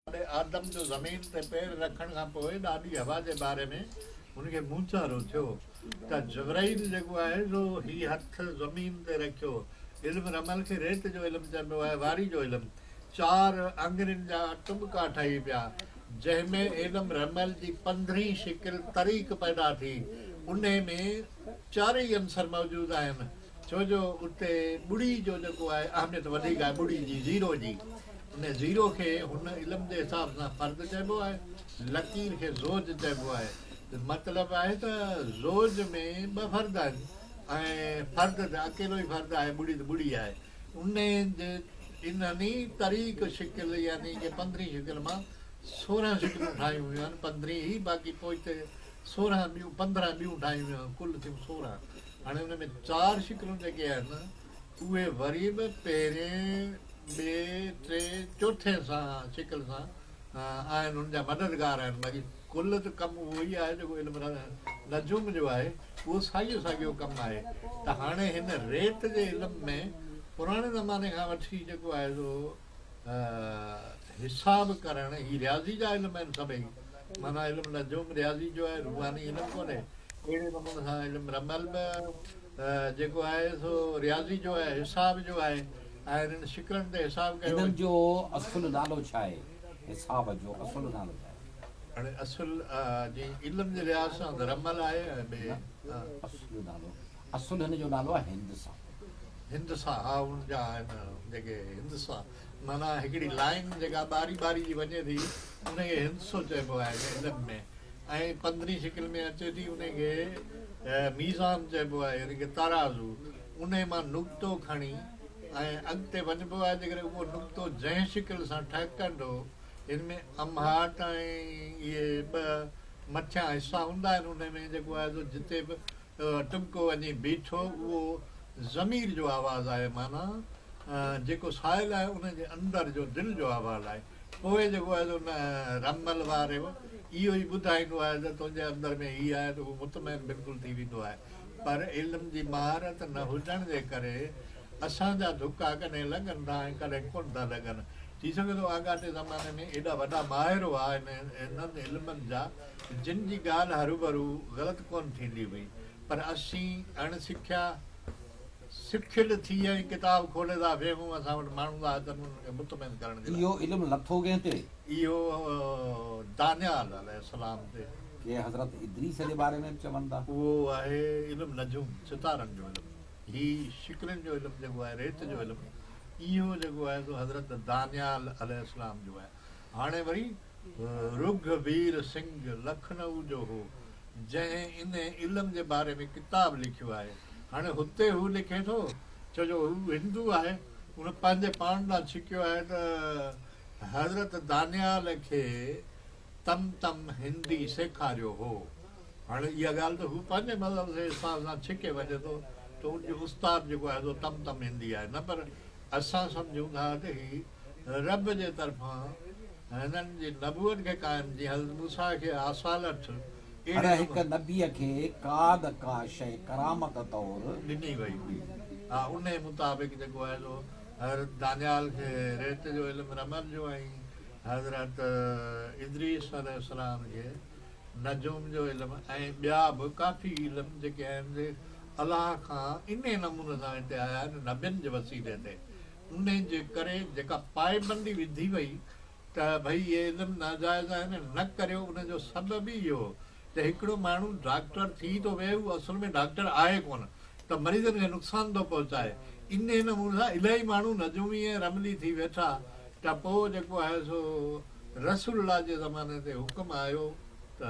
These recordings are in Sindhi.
ڏاڏي آدم جو زمين تي پير رکڻ کان پوء ڏاڏي حوا جي باري ۾ هن کي مونچارو ٿيو ته جبرائيل جيڪو آهي سو هي هٿ زمين تي رکيو علم رمل کي ريت جو علم چئبو آهي واري جو علم چار آڱرين جا ٽٻڪا ٺهي پيا جنهن ۾ علم رمل جي پندرهين شڪل طريق پيدا ٿي انهي ۾ چارئي عنصر موجود آهن ڇو جو اتي ٻڙي جو جيڪو آهي اهميت وڌيڪ آهي ٻڙي جي زيرو جي ان زيرو کي هن علم جي حساب سان فرد چئبو آهي لڪير کي زوج چئبو آهي ته مطلب آهي ته زوج ۾ ٻه فرد آهن ۽ فرد ته اڪيلو ئي فرد آهي ٻڙي ته ٻڙي آهي ان جي انهن ئي طريق شڪل يعني ڪي پندرهين شڪل مان سورهن شڪلون ٺاهيون ويون آهن پندرهين ئي باقي پوئتي سورهن ٻيون پندرهن ٻيون ٺاهيون ويون آهن ڪل ٿيون سورهن هاڻي ان ۾ چار شڪلون جيڪي آهن اهي وري به پهرين، ٻئي، ٽئي، چوٿين سان شڪل سان آهن ان جا مددگار آهن باقي ڪل ته ڪم اهو ئي آهي جيڪو علم نجوم جو آهي اهو ساڳيو ساڳيو ڪم آهي ته هاڻي هن ريت جي علم ۾ پراڻي زماني کان وٺي جيڪو آهي سو حساب ڪرڻ هي رياضي جا علم آهن سڀئي معنيٰ علم نجوم رياضي جو آهي روحاني علم ڪونهي اهڙي نموني سان علم رمل به جيڪو آهي سو رياضي جو آهي حساب جو آهي ۽ انهن شڪلن تي حساب ڪيو انهن جو اصل نالو ڇا آهي حساب جو اصل نالو ڇا آهي هاڻي اصل جي علم جي لحاظ سان رمل آهي ۽ ٻي اصل نالو اصل هن جو نالو آهي هندسا. هندسا ها ان جا آهن جيڪي هندسا معنيٰ هڪڙي لائين جيڪا ٻاري ٻاري جي وڃي ٿي ان کي هندسو چئبو آهي علم ۾ ۽ پندرين شڪل ۾ اچي ٿي ان کي ميزان چئبو آهي يعني ڪه ترازو ان مان نقطو کڻي ۽ اڳتي وڃبو آهي جيڪڏهن اهو نقطو جنهن شڪل سان ٺهڪندو هن ۾ امهاٽ ۽ اهي ٻه مٿيان حصا هوندا آهن ان ۾ جيڪو آهي سو جتي به ٽٻڪو وڃي بيٺو، اهو ضمير جو آواز آهي، معنيٰ جيڪو سائل آهي ان جي اندر جو دل جو احوال آهي. پوء جيڪو آهي سو نه رمل واري به اهو ئي ٻڌائيندو آهي ته تنهنجي اندر ۾ هي آهي ته هو مطمئن بلڪل ٿي ويندو آهي. پر علم جي مهارت نه هجڻ جي ڪري اسان جا ڌڪا ڪڏهن لڳن ٿا ۽ ڪڏهن ڪونه ٿا لڳن. ٿي سگهي ٿو آڳاٽي زماني ۾ ايڏا وڏا ماهر هئا هنن علمن جا، جن جي ڳالهه هروڀرو غلط ڪونه ٿيندي هئي، پر اسين اڻ سکيا سکيل ٿي ۽ ڪتاب کولي ٿا ويهون، اسان وٽ ماڻهن ٿا اچن انهن کي مطمئن ڪرڻ جي لاء. اهو علم لٿو ڪنهن تي؟ اهو دانيال عليه السلام تي. ڪي حضرت ادريس جي باري ۾ به چون ٿا. اهو آهي علم نجوم، ستارن جو علم. هي شڪلين جو علم جيڪو آهي، ريت جو علم، اهو جيڪو آهي سو حضرت دانيال عليه السلام جو آهي. هاڻي وري رگهوير سنگهه لکنئو جو هو، جنهن انهي علم جي باري ۾ ڪتاب لکيو آهي. هاڻي هتي هو لکي ٿو، ڇو جو هو هندو آهي، هن پنهنجي پاڻ ڏانهن ڇڪيو آهي ته حضرت دانيال کي تم تم هندي سيکاريو هو. هاڻي اها ڳالهه ته هو پنهنجي مذهب جي استاد سان ڇڪي وڃي ٿو ته ان جو استاد جيڪو آهي سو تم تم هندي آهي، نه پر اسان سمجهون ٿا ته هي. رب جي طرفان هنن جي نبوت کي قائم جي حضرت موسيٰ کي آصالت اهڙي هر هڪ نبيء کي ڪا نه ڪا شيء ڪرامت طور ڏني وئي هئي ها انهي مطابق جيڪو آهي سو حضرت دانيال کي ريت جو علم رمل جو ۽ حضرت ادريس عليه السلام کي نجوم جو علم ۽ ٻيا به ڪافي علم جيڪي آهن سي الله کان انهي نموني سان هتي آيا آهن نبين جي وسيلي تي انهي جي ڪري جيڪا پائبندي وڌي وئي ته ڀئي اهي علم ناجائز آهن ۽ نه ڪريو ان جو سبب ئي اهو ته هڪڙو ماڻهو ڊاڪٽر ٿي ٿو ويهي هو اصل ۾ ڊاڪٽر آهي ڪونه ته مريضن کي نقصان ٿو پهچائي انهي نموني سان الائي ماڻهو نجومي ۽ رملي ٿي ويٺا ته پوء جيڪو آهي سو رسول الله جي زماني تي حڪم آيو ته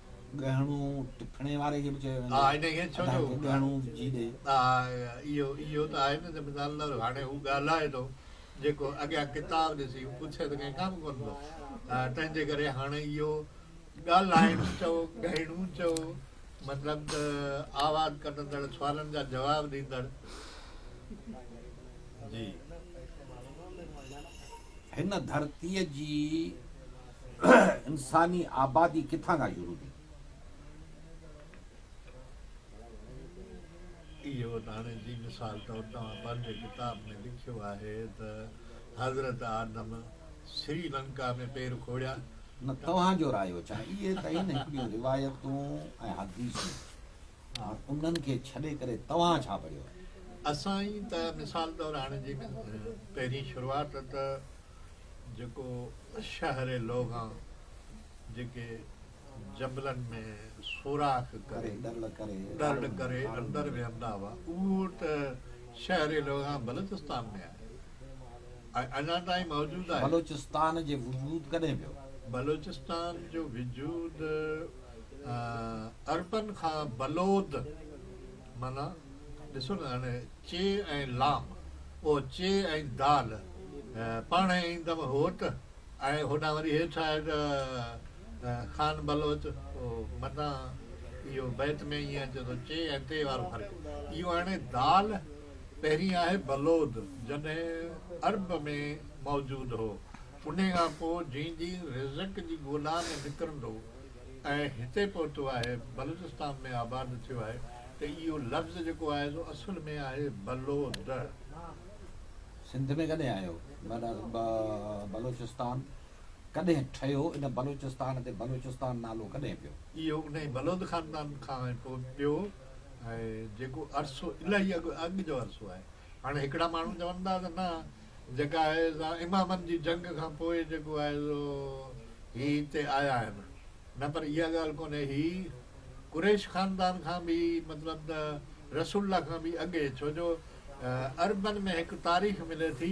ڳهڻو ٽپڻي واري کي به چيو ويندو آهي. ادا کي ڳهڻو وجهي ڏي. اهو ته آهي نه ته مثال طور هاڻي هو ڳالهائي ٿو جيڪو اڳيان ڪتاب ڏسي هو پڇي ته ڪنهن ڪم ڪونه ٿو تنهن جي ڪري هاڻي اهو ڳالهائڻ چئو ڳهڻو چئو مطلب ته آواز ڪڍندڙ سوالن جا جواب ڏيندڙ جي. هن ڌرتيء جي انساني آبادي ڪٿان کان شروع ٿي؟ اهو ته هاڻي جي مثال طور توهان پنهنجي ڪتاب ۾ لکيو آهي ته حضرت آدم سري لنڪا ۾ پير کوڙيا. نه توهان جو رايو ڇا؟ اهي ته آهن هڪڙيون روايتون ۽ حديثون. هاڻ انهن کي ڇڏي ڪري توهان ڇا پڙهيو؟ اسان ئي ته مثال طور هاڻي جي پهرين شروعات ته جيڪو شهر لوگان جيڪي جبلن ۾ سوراخ ڪري ڏرڙ ڪري اندر ويهندا هئا اهو ته شهر لوگان بلوچستان ۾ آهي ۽ اڃا تائين موجود آهي. بلوچستان جي وجود ڪڏهن پيو؟ بلوچستان جو وجود عربن کان بلود معنيٰ ڏسو نه هاڻي چي ۽ لام او چي ۽ دال پاڻهي ايندم هوت ۽ هوڏانهن وري هيٺ آهي ته خان بلوچ او معنيٰ اهو بيت ۾ ائين اچي ٿو چي ۽ تي وارو فرق اهو هاڻي دال پهرين آهي بلود جڏهن عرب ۾ موجود هو انهي کان پوء جيئن جيئن رزق جي ڳولا ۾ نڪرندو ۽ هتي پهتو آهي بلوچستان ۾ آباد ٿيو آهي ته اهو لفظ جيڪو آهي سو اصل ۾ آهي بلو دڙ. سنڌ ۾ ڪڏهن آيو؟ بلوچستان ڪڏهن ٺهيو؟ ان بلوچستان تي بلوچستان نالو ڪڏهن پيو؟ اهو انهي بلوت خاندان کان پيو ۽ جيڪو عرصو الائي اڳ جو عرصو آهي هاڻي هڪڙا ماڻهو چون ٿا ته نه جيڪا آهي سا امامن جي جنگ کان پوء جيڪو آهي سو هي هتي آيا آهن نه پر اها ڳالهه ڪونهي هي قريش خاندان کان به مطلب ته رسول الله کان به اڳي ڇو جو عربن ۾ هڪ تاريخ ملي ٿي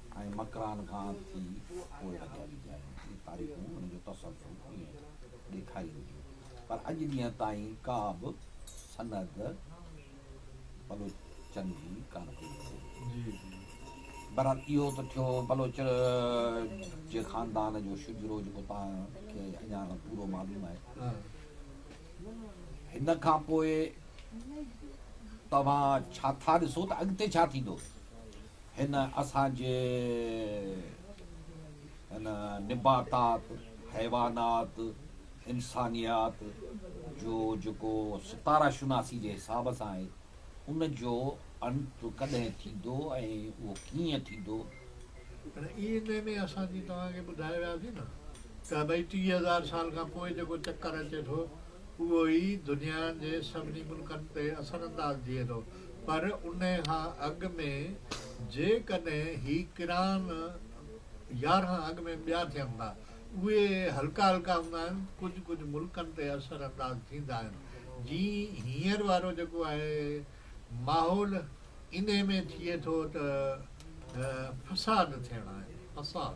۽ مڪران کان ٿي پوء لڳيا ويندي آهي. اهي تاريخون ان جو تسلسل ائين ڏيکارين ٿيون. پر اڄ ڏينهن تائين ڪا به سند بلوچن جي ڪانه پئي ملي. بهرحال اهو ته ٿيو بلوچ جي خاندان جو شجرو جيڪو توهان کي اڃا پورو معلوم آهي. هن کان پوء توهان ڇا ٿا ڏسو ته اڳتي ڇا ٿيندو؟ هن اسان جي هن نباتات، حيوانات، انسانيات جو جيڪو ستاره شناسي جي حساب سان آهي ان جو انت ڪڏهن ٿيندو ۽ اهو ڪيئن ٿيندو؟ هن اي اين اي ۾ اسان جي توهان کي ٻڌائي وياسين نه ته ڀئي ٽيهه هزار سال کان پوء جيڪو چڪر اچي ٿو اهو ئي دنيا جي سڀني ملڪن تي اثر انداز ٿئي ٿو پر ان کان اڳ ۾ جيڪڏهن هي ڪران يارهن اڳ ۾ ٻيا ٿين ٿا اهي هلڪا هلڪا هوندا آهن ڪجهه ڪجهه ملڪن تي اثر انداز ٿيندا آهن جي هينئر وارو جيڪو آهي ماحول انهي ۾ ٿئي ٿو ته فساد ٿيڻا آهن فساد.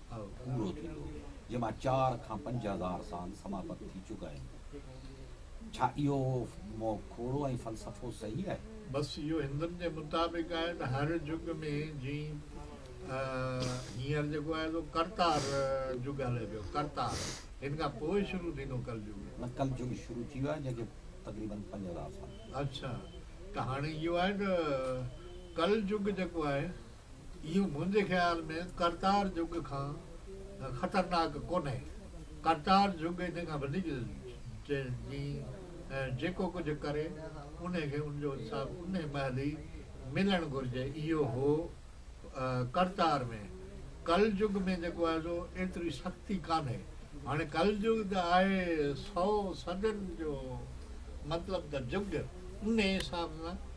پورو ٿيندو هو، جنهن مان چار کان پنج هزار سان سماپت ٿي چڪا آهن. ڇا اهو موکوڙو ۽ فلسفو صحيح آهي؟ بس اهو هندن جي مطابق آهي ته هر جڳ ۾ جيئن هينئر جيڪو آهي سو ڪرتار جڳ هلي پيو، ڪرتار، هن کان پوء شروع ٿيندو ڪل جڳ. نه ڪل جڳ شروع ٿي ويو آهي جنهن کي تقريبن پنج هزار سال. اڇا ته هاڻي اهو آهي ته ڪل جڳ جيڪو آهي اهو منهنجي خيال ۾ ڪرتار جهڳ کان خطرناڪ ڪونهي. ڪرتار جهڳ ان کان وڌيڪ جيئي ۽ جيڪو ڪجهه ڪري انهي کي ان جو انصاف انهي مهل ئي ملڻ گهرجي. اهو هو ڪرتار ۾. ڪل جهڳ ۾ جيڪو آهي سو ايتري سختي ڪانهي. هاڻي ڪل جهڳ ته آهي سئو صدين جو مطلب ته جهڳ انهي حساب سان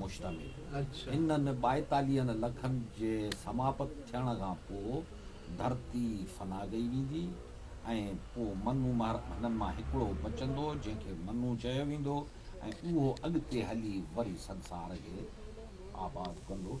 مشتمل هو. هنن ٻائيتاليهن لکن جي سماپت ٿيڻ کان پوء ڌرتي فنا ڪئي ويندي ۽ پوء منو مهرڪ هنن مان هڪڙو بچندو جنهن کي منو چيو ويندو ۽ اهو اڳتي هلي وري سنسار کي آباد ڪندو.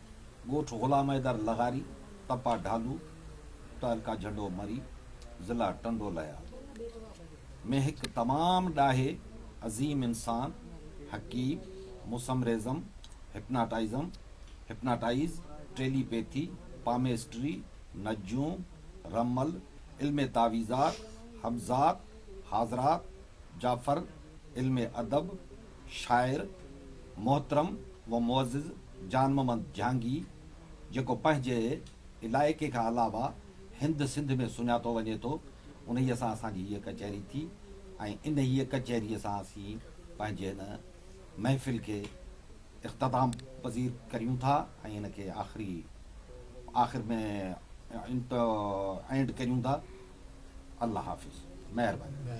ڳوٺ غلام حيدر لغاري، تپا ڍالو، تعلقه جهنڊو مري، ضلع ٽنڊو ليا، ۾ هڪ تمام ڏاهي، عظيم انسان، حڪيم، mesmerism, hypnotism, Hypnotize، telepathy, palmistry, نجوم، رمل، علم تعويذات، حبذات، حاضرات، جعفر، علم ادب، شاعر محترم و معزز جان محمد جهانگي جيڪو پنهنجي علائقي کان علاوه هند سنڌ ۾ سڃاتو وڃي ٿو انهيء سان اسان جي هيء ڪچهري ٿي ۽ انهيء ڪچهريء سان اسين پنهنجي هن محفل کي اختتام پذير ڪريون ٿا ۽ هن کي آخري آخر ۾ انٽ اينڊ ڪريون ٿا الله حافظ مهرباني.